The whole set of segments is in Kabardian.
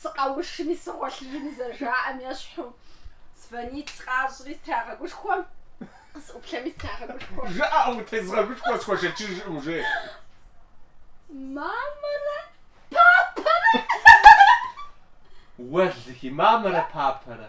сыкъэушми сыгъуэлъыжми зэрыжаӏэм ещхьу, звонить къащӏри страгъэгушхуэ, къысӏуплъэми страгъэгушхуэ. Жаӏэу утезгъэгушхуэ схуэшэчыжкъым, жи. Мамэрэ папэрэ! Уэлэхьи, мамэрэ папэрэ!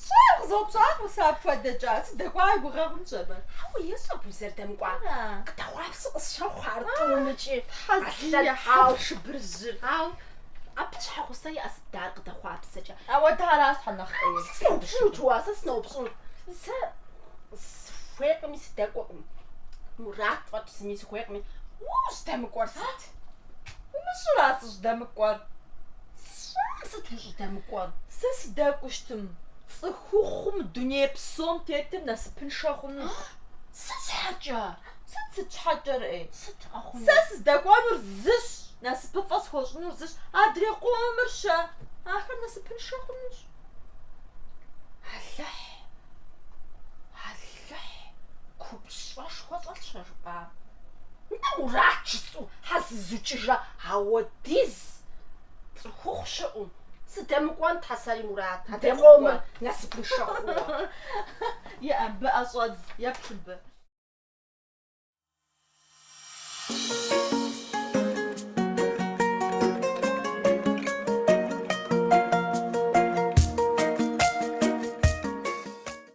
Сщӏар къызэупщӏакъым сэ апхуэдэкӏэ, сыдэкӏуауэ и гугъэ хъунщ абы. Хьэуэ, ещӏэ абы узэрыдэмыкӏуар. Къыдэхъуапсэу къысщохъу ар тӏумыкӏи. Тхьэзыи ехьэу шыбыржьыр. Ау, абы щхьэгъусэ иӏэ сыт дэ ар къыдэхъуапсэкӏэ? Ауэ дэ аращ тхьэ нэхъ ӏейр. Сэ сыноупщӏынут уэ, сэ сыноупщӏынут. Сэ сыхуейкъыми, сыдэкӏуэкъым. Мурат фӏэкӏ зыми сыхуейкъыми. Уэ ущӏыдэмыкӏуэр сыт? Умыщӏэрэ сыщӏыдэмыкӏуэр? Сщӏэм сыт ущӏыдэмыкӏуэр? Сэ сыдэкӏуэу щытмэ, цӏыхухъуу дуней псом тетыр насыпыншэ хъунущ. Сыт щхьэкӏэ? Сыт сыт щхьэкӏэрэ? Сыт къэхъунур? Сэ сыздэкӏуэнур зыщ, насыпыфӏэ схуэщӏынур зыщ, адрей къомыр щэ, ахэр насыпыншэ хъунущ. Алыхь! Алыхь! Алыхь, купщӏэшхуэ щӏэлъщ а жыпӏам. Нтӏэ Мурат жысӏэу щхьэ зызукӏыжа ауэдиз цӏыхухъу щыӏэу? Сыдэмыкӏуэн, тхьэ сэри Мурат, адрей къомыр насыпыншэ хъууэ. Е абы ӏэ щӏэдз, еплъ абы.